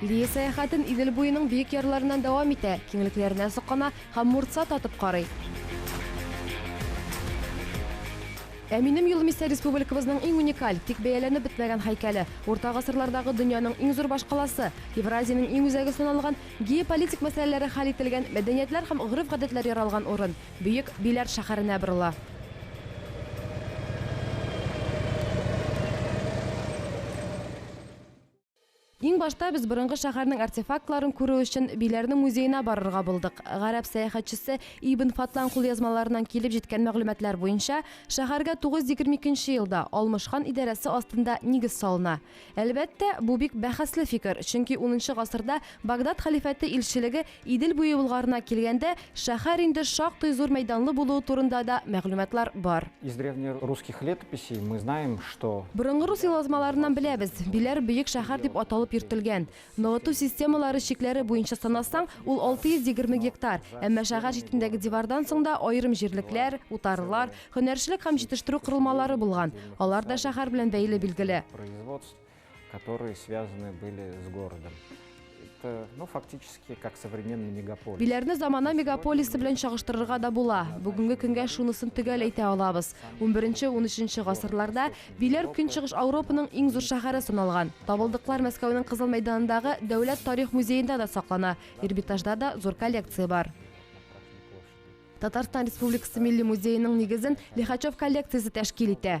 Лия сәяхәтен Идел буеның биек ярларыннан дәвам итә, киңлекләренә соклана һәм мурца татып карый. Ә минем юлым исә республикабызның иң уникаль, тик бәяләнеп бетмәгән һәйкәле, урта гасырлардагы дөньяның иң зур башкаласы, Евразиянең иң үзәге саналган, геополитик мәсьәләләре хәл ителгән, мәдәниятләр һәм гореф-гадәтләр яралган урын, Бөек Биләр шәһәренә борыла. Иң башта без борынгы шәһәрнең артефактларын күрү өчен Биләрнең музеена барырга булдык. Гарәп сәяхәтчесе Ибн Фатлан кулъязмаларыннан килеп җиткән мәгълүматлар буенча, шәһәргә 922 елда Алмыш хан идарәсе астында нигез салына. Әлбәттә, бу бик бәхәсле фикер, чөнки унынчы гасырда Багдад хәлифәте илчелеге Идел буе Болгарына килгәндә, шәһәр инде шактый зур мәйданлы булуы турында да мәгълүматлар бар. Из древнерусских летописей мы знаем, что. Борынгы рус елазмаларыннан беләбез, Биләр бөек шәһәр дип аталып йөртелгән. Ныгыту системалары чикләре буенча санасаң, ул 620 гектар, әмма шәһәр читендәге дивардан соң да аерым җирлекләр, утарлар, һөнәрчелек һәм җитештерү корылмалары булган, алар да шәһәр белән бәйле, билгеле. которые связаны были с городом. Это, ну, фактически, как современный мегаполис. Биләрне замана мегаполисы белән чагыштырырга да була. Бүгенге көнгә шунысын төгәл әйтә алабыз. 11-13 гасырларда Биләр Көнчыгыш Ауропаның иң зур шәһәре саналган. Табылдыклар Мәскәүнең Кызыл мәйданындагы Дәүләт тарих музеенда да саклана. Эрмитажда да зур коллекция бар. Татарстан Республикасы Милли музееның нигезен Лихачев коллекциясе тәшкил итә.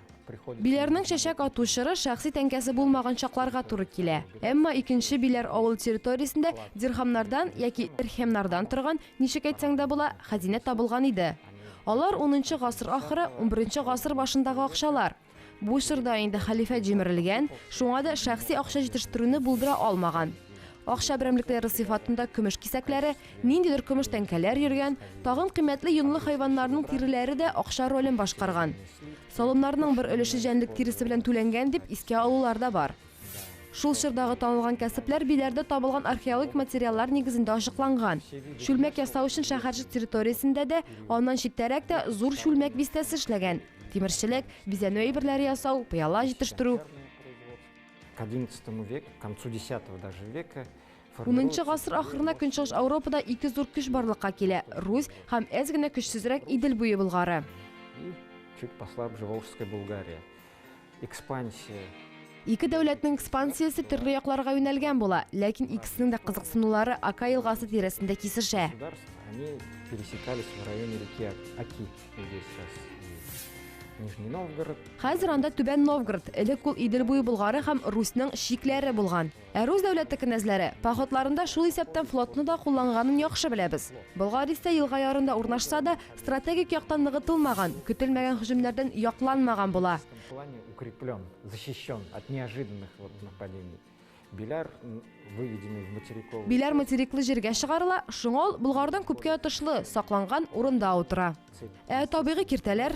Биләрнең чәчәк ату чоры шәхси тәңкәсе булмаган чакларга туры килә. Әмма икенче биләр авыл территориясендә дирхамнардан яки ирхемнардан торган, ничек әйтсәң дә була, хәзинә табылган иде. Алар 10 гасыр ахыры, 11 гасыр башындагы акчалар. Бу чорда инде хәлифә җимерелгән, шуңа да шәхси акча җитештерүне булдыра алмаган. Акча берәмлекләре сыйфатында көмеш кисәкләре, Ниндидер көмеш тәңкәләр йөргән, тагын кыйммәтле йонлы хайваннарның тиреләре дә акча ролен башкарган. Салымнарның бер өлеше җәнлек тиресе белән түләнгән дип искә алулар да бар. Шул чордагы танылган кәсепләр Биләрдә табылган археологик материаллар нигезендә ачыкланган. Чүлмәк ясау өчен шәһәрчек территориясендә дә, аннан читтәрәк тә зур чүлмәк бистәсе эшләгән. Тимерчелек, бизәнү әйберләре ясау, пыяла җитештерү. Унынчы гасыр ахырына Көнчыгыш Ауропада ике зур көч барлыкка килә, Русь һәм әз генә көчсезрәк Идел буе Болгары. Чуть посла Бжеволжская Булгария. Экспансия. Ике дәүләтнең экспансиясе төрле якларга юнәлгән була, ләкин икесенең дә кызыксынулары Ака елгасы тирәсендә кисешә. Хәзер анда Түбән Новгород, элек ул Идел буе Болгары һәм Русьның чикләре булган. Ә рус дәүләте кенәзләре походларында шул исәптән флотны да кулланганын яхшы беләбез. Болгар исә елга ярында урнашса да, стратегик яктан ныгытылмаган, көтелмәгән һөҗүмнәрдән якланмаган була. укреплен, защищен от неожиданных вот нападений. Биляр выведены в материковый. Биляр материклы җиргә чыгарыла, шуңа ул Болгардан күпкә отышлы, сакланган урында утыра. Ә табигый киртәләр?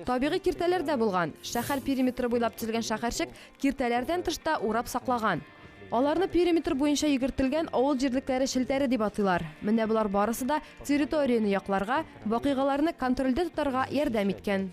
Табигый киртәләр дә булган. Шәһәр периметры буйлап төзелгән шәһәрчек киртәләрдән тыш та урап саклаган. Аларны периметр буенча йөгертелгән авыл җирлекләре челтәре дип атыйлар. Менә болар барысы да территорияне якларга, вакыйгаларны контрольдә тотарга ярдәм иткән.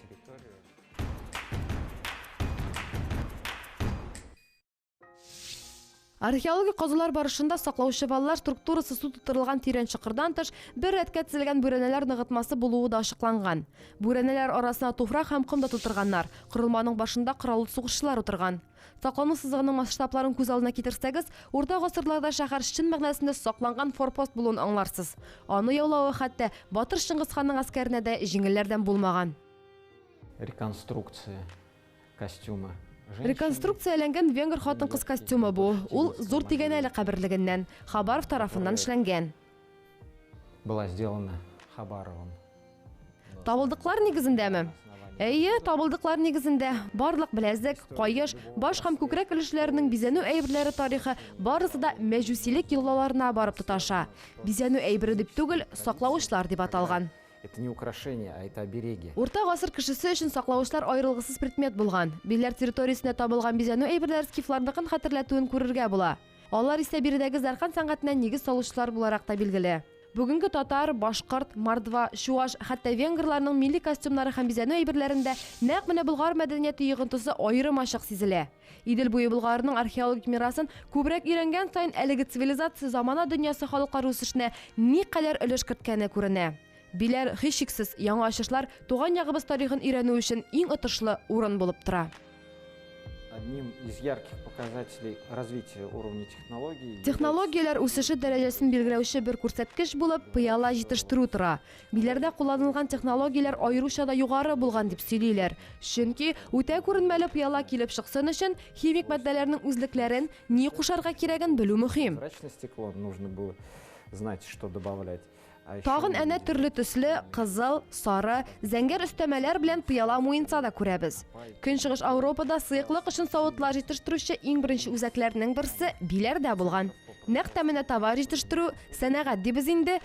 Археологик казулар барышында саклаучы валлар структурасы су тутырылган тирән чокырдан тыш бер рәткә тезелгән бүрәнәләр ныгытмасы булуы да ачыкланган. Бүрәнәләр арасына туфрак һәм ком да тутырганнар, корылманың башында кораллы сугышчылар утырган. Саклану сызыгының масштабларын күз алдына китерсәгез, урта гасырларда шәһәр чын мәгънәсендә сакланган форпост булуын аңларсыз. Аны яулавы хәтта батыр Чыңгыз ханның гаскәренә дә җиңелләрдән булмаган. Реконструкция. костюмы. Реконструкцияләнгән венгр хатын-кыз костюмы бу. Ул Зур Тигәнәле каберлегеннән, Хабаров тарафыннан эшләнгән. Была сделана Хабаровым. Табылдыклар нигезендәме? Әйе, табылдыклар нигезендә. Барлык беләзек, каеш, баш һәм күкрәк өлешләренең бизәнү әйберләре тарихы барысы да мәҗүсилек йолаларына барып тоташа. Бизәнү әйбере дип түгел, саклавычлар дип аталган. Это не украшение, а это обереги. Урта гасыр кешесе өчен саклавычлар аерылгысыз предмет булган. Билләр территориясендә табылган бизәнү әйберләре скифларныкын хәтерләтүен күрергә була. Алар исә биредәге зәркан сәнгатенә нигез салучылар буларак та билгеле. Бүгенге татар, башкорт, мордва, чуаш, хәтта венгрларның милли костюмнары һәм бизәнү әйберләрендә нәкъ менә Болгар мәдәнияте йогынтысы аерым ачык сизелә. Идел буе Болгарының археологик мирасын күбрәк өйрәнгән саен әлеге цивилизация замана дөньясы халыклар үсешенә никадәр өлеш керткәне күренә. Биләр, һичшиксез, яңа ачышлар туган ягыбыз тарихын өйрәнү өчен иң отышлы урын булып тора. Одним из ярких показателей развития уровня технологий Технологияләр үсеше дәрәҗәсен билгеләүче бер күрсәткеч булып пыяла җитештерү тора. Биләрдә кулланылган технологияләр аеруча да югары булган дип сөйлиләр. Чөнки үтә күренмәле пыяла килеп чыксын өчен, химик матдәләрнең үзлекләрен, ни кушарга кирәген белү мөһим. Тагын әнә төрле төсле, кызыл, сары, зәңгәр өстәмәләр белән пыяла муенса да күрәбез. Көнчыгыш Ауропада сыеклык өчен савытлар җитештерүче иң беренче үзәкләрнең берсе Биләрдә булган. Нәкъ тә менә товар җитештерү, сәнәгать дибез инде,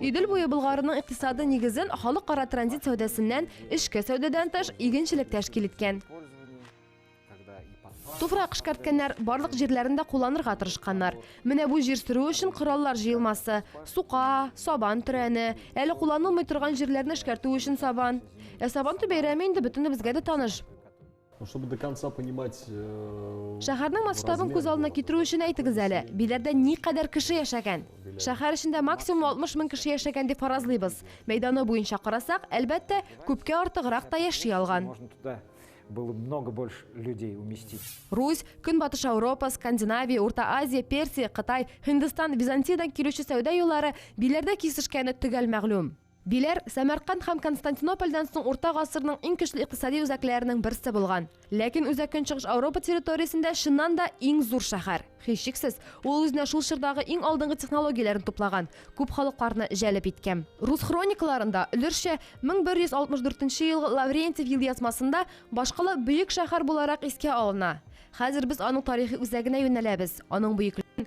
Идел буе Болгарының икътисады нигезен халыкара транзит сәүдәсеннән, эчке сәүдәдән тыш, игенчелек тәшкил иткән. Туфрак эшкәрткәннәр, барлык җирләрен дә кулланырга тырышканнар. Менә бу җир сөрү өчен кораллар җыелмасы, сука, сабан төрәне, әле кулланылмый торган җирләрне эшкәртү өчен сабан. Ә Сабантуй бәйрәме инде бөтенебезгә дә таныш. Э, Шәһәрнең масштабын күз алдына китерү өчен әйтегез әле, Биләрдә никадәр кеше яшәгән? Шәһәр эчендә максимум 60 мең кеше яшәгән дип фаразлыйбыз. Мәйданы буенча карасак, әлбәттә, күпкә артыграк та яши алган. было много больше людей уместить. Русь, Көнбатыш Европа, Скандинавия, Урта Азия, Персия, Кытай, Һиндстан, Византиядән килүче сәүдә юллары биләрдә кисешкәне төгәл мәгълүм. Диләр, Сәмәрканд һәм Константинопольдән соң урта гасырның иң көчле икътисади үзәкләренең берсе булган. Ләкин Үзәк Көнчыгыш Ауропа территориясендә чыннан да иң зур шәһәр. Һичшиксез, ул үзенә шул чордагы иң алдынгы технологияләрне туплаган, күп халыкларны җәлеп иткән. Рус хроникаларында, өлешчә, 1164 елгы Лаврентьев елъязмасында башкала бөек шәһәр буларак искә алына. Хәзер без аның тарихи үзәгенә юнәләбез, аның бөеклеген,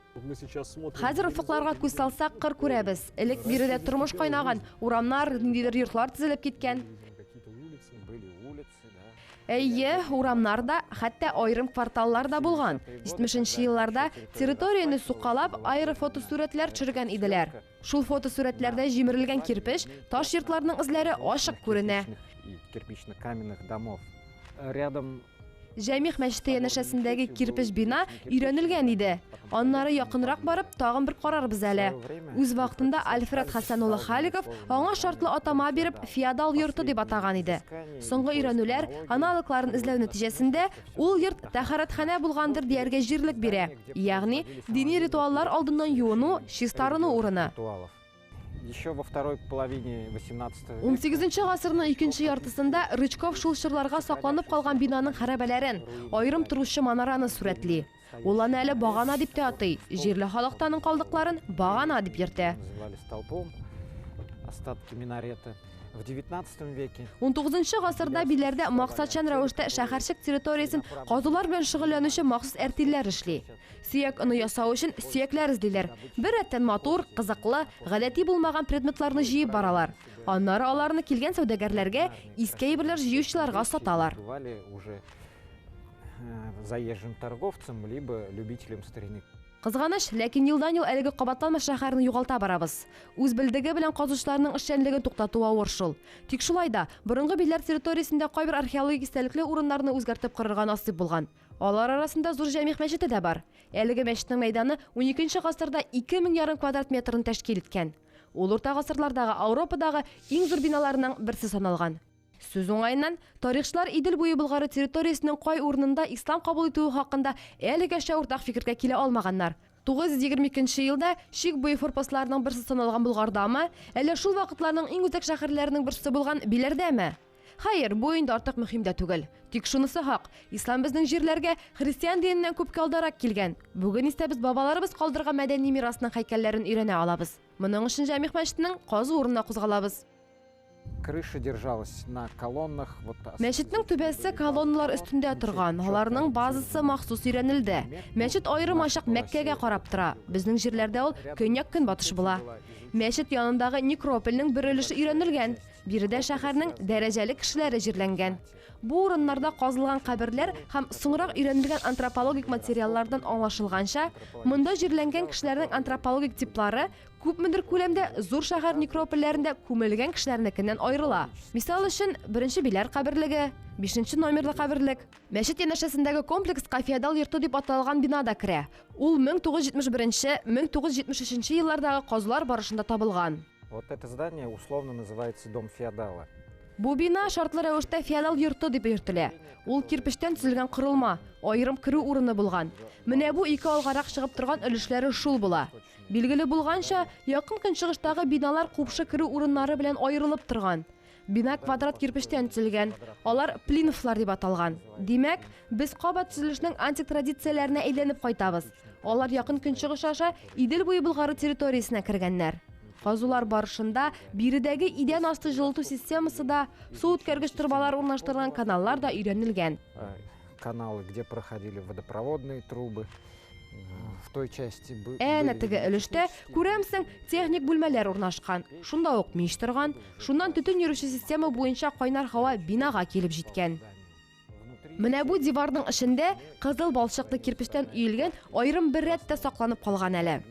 Хәзер офыкларга күз салсак, кыр күрәбез. Элек биредә тормыш кайнаган, урамнар, ниндидер йортлар төзелеп киткән. Әйе, урамнар да, хәтта аерым кварталлар да булган. 70 елларда территорияне сукалап, аэрофотосурәтләр төшергән иделәр. Шул фотосурәтләрдә җимерелгән кирпеч, таш йортларның эзләре ачык күренә. Кирпичных каменных домов. Рядом Җәмигъ мәчете янәшәсендәге кирпеч бина өйрәнелгән иде. Аннары якынрак барып, тагын бер карарбыз әле. Үз вакытында Альфред Хәсән улы Халиков аңа шартлы атама биреп, феодал йорты дип атаган иде. Соңгы өйрәнүләр, аналогларын эзләү нәтиҗәсендә, ул йорт тәһарәтханә булгандыр дияргә җирлек бирә, ягъни дини ритуаллар алдыннан юыну, чистарыну урыны. Еще во второй половине 18 века. 18 гасырның икенче яртысында Рычков шул чорларга сакланып калган бинаның хәрабәләрен, аерым торучы манараны сурәтли. Ул аны әле багана дип тә атый, җирле халык та аның калдыкларын багана дип йөртә. Называли столпом остатки минарета. В 19 веке 19 гасырда Биләрдә максатчан рәвештә шәһәрчек территориясен казулар белән шөгыльләнүче махсус әртилләр эшли. Сөяк оны ясау өчен сөякләр эзлиләр. Беррәттән матур, кызыклы, гадәти булмаган предметларны җыеп баралар. Аннары аларны килгән сәүдәгәрләргә, иске әйберләр җыючыларга саталар. Э, заезжим торговцам, либо любителям старины. Кызганыч, ләкин елдан-ел әлеге кабатланмас шәһәрне югалта барабыз. Үз белдеге белән казучыларның эшчәнлеген туктату авыр шул. Тик шулай да, борынгы битләр территориясендә кайбер археологик истәлекле урыннарны үзгәртеп корырга насыйп булган. Алар арасында Зур Җәмигъ мәчете дә бар. Әлеге мәчетнең мәйданы уникенче гасырда ике мең ярым квадрат метрны тәшкил иткән. Ул урта гасырлардагы Ауропадагы иң зур биналарның берсе саналган. Сүз уңаеннан, тарихчылар Идел буе Болгары территориясенең кай урынында ислам кабул итүе хакында әлегәчә уртак фикергә килә алмаганнар. 922 нче елда чик буе форпостларының берсе саналган Болгардамы, әллә шул вакытларның иң үзәк шәһәрләренең берсе булган Биләрдәме? Хәер, бу инде артык мөһим дә түгел. Тик шунысы хак, ислам безнең җирләргә христиан диненнән күпкә алдарак килгән. Бүген исә без бабаларыбыз калдырган мәдәни мирасның һәйкәлләрен өйрәнә алабыз. Моның өчен Җәмигъ мәчетенең казу урынына кузгалабыз. Крыша держалась на колоннах, вот та. Мәчетнең түбәсе колонналар өстендә торган, аларның базасы махсус өйрәнелде. Мәчет аерым ачык Мәккәгә карап тора. Безнең җирләрдә ул көньяк-көнбатыш була. Мәчет янындагы некропольнең бер өлеше өйрәнелгән. Биредә шәһәрнең дәрәҗәле кешеләре җирләнгән. Бу урыннарда казылган каберләр һәм соңрак өйрәнелгән антропологик материаллардан аңлашылганча, монда җирләнгән кешеләрнең антропологик типлары күпмедер күләмдә зур шәһәр некропольләрендә күмелгән кешеләрнекеннән аерыла. Мисал өчен, Беренче Биләр каберлеге, бишенче номерлы каберлек. Мәчет янәшәсендәге комплекска феодал йорты дип аталган бина да керә. Ул 1971-1973 еллардагы казулар барышында табылган. Вот это здание условно называется дом феодала. Бу бина шартлы рәвештә феодал йорты дип йөртелә. Ул кирпечтән төзелгән корылма, аерым керү урыны булган. Менә бу ике алгарак чыгып торган өлешләре шул була. Билгеле булганча, якын көнчыгыштагы биналар купшы керү урыннары белән аерылып торган. Бина квадрат кирпечтән төзелгән. Алар плинфлар дип аталган. Димәк, без кабат төзелешнең антик традицияләренә әйләнеп кайтабыз. Алар якын көнчыгыш аша Идел буе Болгары территориясенә кергәннәр. Казулар барышында биредәге идән асты җылыту системасы да, су үткәргеч торбалар урнаштырылган каналлар да өйрәнелгән. Каналы, где проходили водопроводные трубы. в той части бы- Әнә были теге именно өлештә, технические. күрәмсең, техник бүлмәләр урнашкан. Шунда ук мич торган. Шуннан төтен йөрүче система буенча кайнар һава бинага килеп җиткән. Внутри Менә бу диварның эчендә кызыл балчыклы кирпечтән өелгән аерым бер рәт тә сакланып калган әле.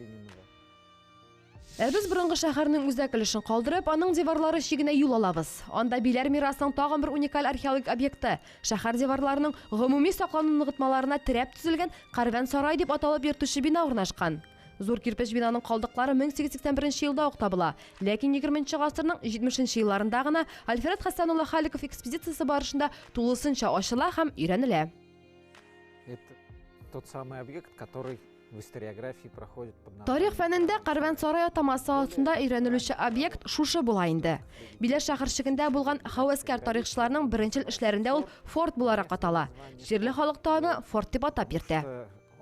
Ә без борынгы шәһәрнең үзәк өлешен калдырып, аның диварлары чигенә юл алабыз. Анда Биләр мирасының тагын бер уникаль археологик объекты, шәһәр диварларының гомуми саклану ныгытмаларына терәп төзелгән Карвән-сарай дип аталып йөртүче бина урнашкан. Зур кирпеч бинаның калдыклары 1881 елда ук табыла, ләкин егерменче гасырның җитмешенче елларында гына Альфред Хәсән улы Халиков экспедициясе барышында тулысынча ачыла һәм өйрәнелә. Это тот самый объект, который Тарих фәнендә Кәрвансарай атамасы астында өйрәнелүче объект шушы була инде. Биләр шәһәрчегендә булган хәвәскәр тарихчыларның беренчел эшләрендә ул форт буларак атала. Җирле халык та аны форт дип атап йөртә.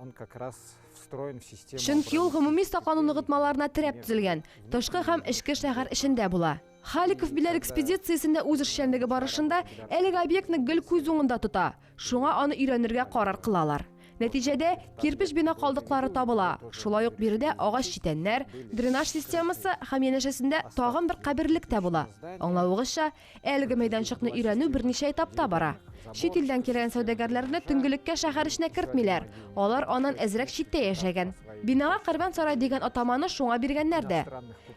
Он как раз встроен в систему. Чөнки ул гомуми саклану ныгытмаларына терәп төзелгән, тышкы һәм эчке шәһәр эчендә була. Халиков Биләр экспедициясендә үз эшчәнлеге барышында әлеге объектны гел күз уңында тота. Шуңа аны өйрәнергә карар кылалар. Нәтиҗәдә, кирпеч бина калдыклары табыла. Шулай ук биредә агач читәннәр, дренаж системасы һәм янәшәсендә тагын бер каберлек тә була. Аңлавыгызча, әлеге мәйданчыкны өйрәнү берничә этапта бара. Чит илдән килгән сәүдәгәрләрне төнгелеккә шәһәр эченә кертмиләр, алар аннан әзрәк читтә яшәгән. Бинага Кәрван сарай дигән атаманы шуңа биргәннәр дә.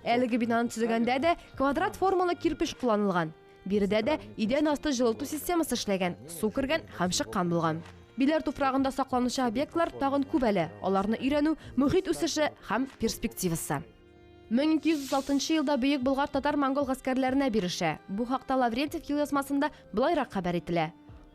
Әлеге бинаны төзегәндә дә квадрат формалы кирпеч кулланылган. Биредә дә идән асты җылыту системасы эшләгән, су кергән һәм чыккан булган. Биләр туфрагында сакланучы объектлар тагын күп әле, аларны өйрәнү, мохит үсеше һәм перспективасы. 1236 елда Бөек Болгар татар-монгол гаскәрләренә бирешә. Бу хакта Лаврентьев елъязмасында болайрак хәбәр ителә.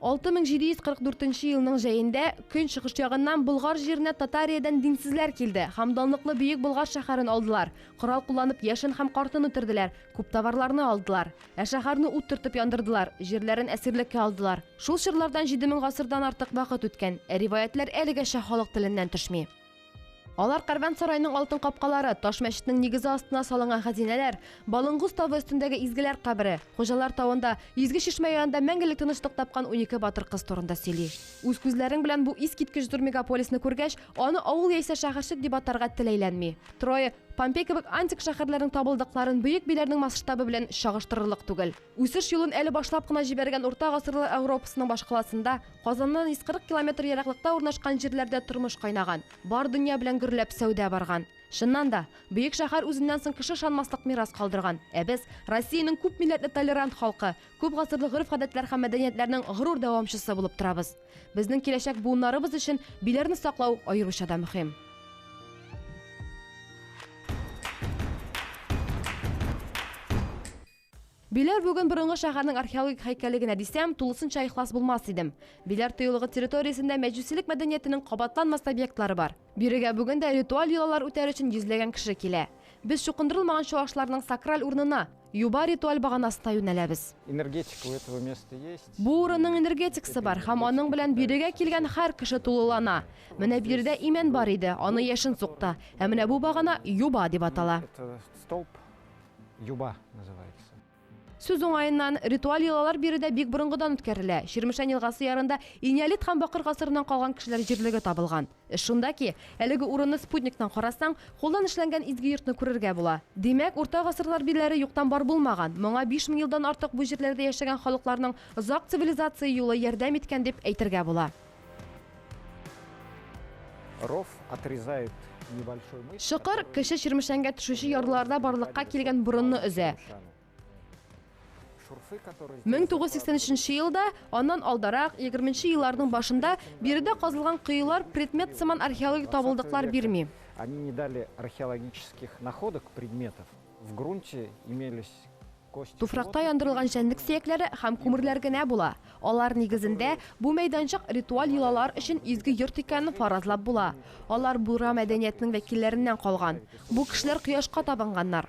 6744 елның җәендә көнчыгыш ягыннан Болгар җиренә Татариядән динсезләр килде һәм данлыклы Бөек Болгар шәһәрен алдылар, корал кулланып яшен һәм картын үтерделәр, Күп товарларны алдылар. Ә шәһәрне ут төртеп яндырдылар, җирләрен әсирлеккә алдылар. Шул чорлардан җиде мең гасырдан артык вакыт үткән, ә риваятьләр әлегәчә халык теленнән төшми. Алар кәрвансарайның алтын капкалары, таш мәчетнең нигезе астына салынган хәзинәләр, Балынгуз тавы өстендәге изгеләр кабере, Хуҗалар тавында, Изге чишмә янында мәңгелек тынычлык тапкан унике батыр кыз турында сөйли. Үз күзләрең белән бу искиткеч зур мегаполисны күргәч, Аны авыл яисә шәһәрчек дип атарга теләйләнми. Трое, Помпей кебек антик шәһәрләрнең табылдыкларын бөек биләрнең масштабы белән чагыштырырлык түгел. Үсеш юлын әле башлап кына җибәргән урта гасырлар Ауропасының башкаласында, Казаннан 140 километр ераклыкта урнашкан җирләрдә тормыш кайнаган, бар дөнья белән гөрләп сәүдә барган. Чыннан да, бөек шәһәр үзеннән соң кеше ышанмаслык мирас калдырган. Ә без, Россиянең күп милләтле толерант халкы, күп гасырлы гореф-гадәтләр һәм мәдәниятләрнең горур дәвамчысы булып торабыз. Безнең киләчәк буыннарыбыз өчен биләрне саклау аеруча да мөһим. Биләр бүген борынгы шәһәрнең археологик һәйкәле генә дисәм, тулысынча ихлас булмас идем. Биләр тыюлыгы территориясендә мәҗүсилек мәдәниятенең кабатланмас объектлары бар. Бирегә бүген дә ритуаль йолалар үтәр өчен йөзләгән кеше килә. Без чукындырылмаган чуашларның сакраль урынына, Юба ритуаль баганасына юнәләбез. Энергетика у этого места есть. Бу урынның энергетикасы бар һәм аның белән биредә килгән һәр кеше тулылана. Менә биредә имән бар иде, аны яшен сукты. Ә менә бу багана юба дип атала. Это столб юба называется. Сүз уңаеннан, ритуаль йолалар биредә бик борынгыдан үткәрелә. Чирмешән елгасы ярында энеолит һәм бакыр гасырыннан калган кешеләр җирлеге табылган. Эш шунда ки, әлеге урынны спутниктан карасаң, кулдан эшләнгән изге йортны күрергә була. Димәк, урта гасырлар бирләре юктан бар булмаган, моңа биш мең елдан артык бу җирләрдә яшәгән халыкларның озак цивилизация юлы ярдәм иткән дип әйтергә була. Ров отрезает небольшой мысмер. Чокыр, Кече Чирмешәнгә төшүче ярлыларда барлыкка килгән борынны өзә. Мең тугыз сиксән өченче елда, аннан алдарак, егерменче елларның башында биредә казылган коелар предмет сыман археологик табылдыклар бирми. Они не дали археологических находок предметов. В грунте имелись Туфракта яндырылган җәнлек сөякләре һәм күмерләр генә була. Алар нигезендә бу мәйданчык ритуаль йолалар өчен изге йорт икәнен фаразлап була. Алар буйра мәдәниятенең вәкилләреннән калган. Бу кешеләр кояшка табынганнар.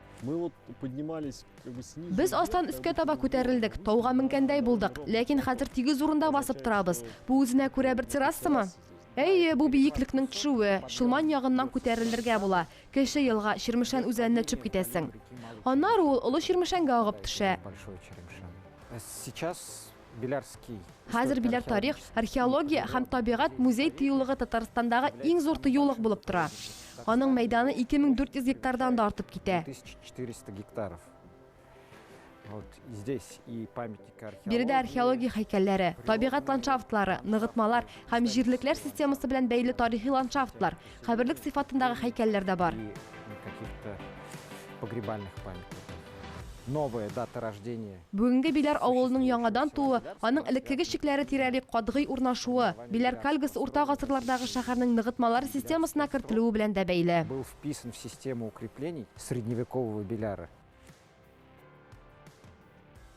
Без астан өскә таба күтәрелдек, тауга менгәндәй булдык, ләкин хәзер тигез урында басып торабыз. Бу үзенә күрә бер террасамы? Әйе, бу биеклекнең төшүе, Чулман ягыннан күтәрелергә була. Кече елга Чирмешән үзәненә төшеп китәсең. Аннары ул Олы Чирмешәнгә агып төшә. Сейчас Хәзер Биләр тарих, археология һәм табигать музей тыюлыгы Татарстандагы иң зур тыюлык булып тора. Аның мәйданы 2400 гектардан да артып китә. Биредә археология һәйкәлләре, табигать ландшафтлары, ныгытмалар һәм җирлекләр системасы белән бәйле тарихи ландшафтлар, Каберлек сыйфатындагы һәйкәлләр дә бар. Бүгенге Биләр авылының яңадан тууы, аның элеккеге чикләре тирәли катгый урнашуы, Биләр Кальгасы урта гасырлардагы шәһәрнең ныгытмалар системасына кертелүе белән дә бәйле.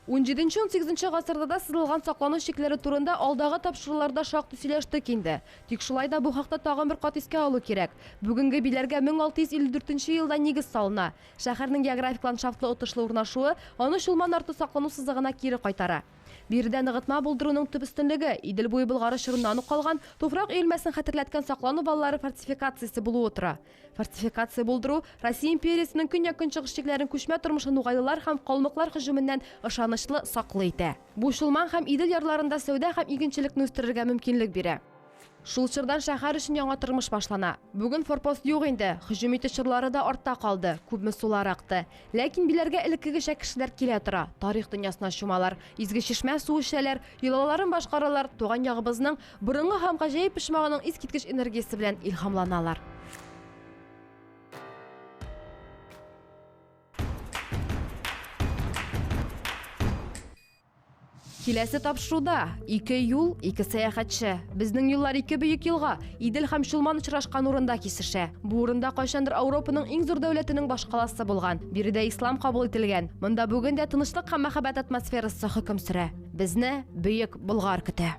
Унҗиденче, унсигезенче гасырларда сызылган саклану чикләре турында алдагы тапшыруларда шактый сөйләштек инде. Тик шулай да бу хакта тагын бер кат искә алу кирәк. Бүгенге биләргә 1654 елда нигез салына. Шәһәрнең географик ландшафтлы отышлы урнашуы аны Чулман арты саклану сызыгына кире кайтара. Биредә ныгытма булдыруның төп өстенлеге, Идел буе Болгары чорыннан ук калган, туфрак өелмәсен хәтерләткән саклану валлары фортификациясе булуы тора. Фортификация булдыру, Россия империясенең көньяк-көнчыгыш чикләрен күчмә тормышлы нугайлылар һәм калмыклар һөҗүменнән ышанычлы саклый итә. Бу Чулман һәм Идел ярларында сәүдә һәм игенчелекне үстерергә мөмкинлек бирә. Шул чордан шәһәр өчен яңа тормыш башлана. Бүген форпост юк инде, һөҗүм итү чорлары да артта калды, күпме сулар акты. Ләкин Биләргә элеккегечә кешеләр килә тора, тарих дөньясына чумалар, Изге Чишмә суы эчәләр, йолаларын башкаралар, туган ягыбызның Борынгы һәм гаҗәеп почмагының искиткеч энергиясе белән илһамланалар. Киләсе тапшыруда ике юл, ике сәяхәтче. Безнең юллар ике бөек елга, Идел һәм Чулман очрашкан урында кисешә. Бу урында кайчандыр Ауропаның иң зур дәүләтенең башкаласы булган. Биредә ислам кабул ителгән. Монда бүген дә тынычлык һәм мәхәббәт атмосферасы хөкем сөрә. Безне Бөек Болгар көтә.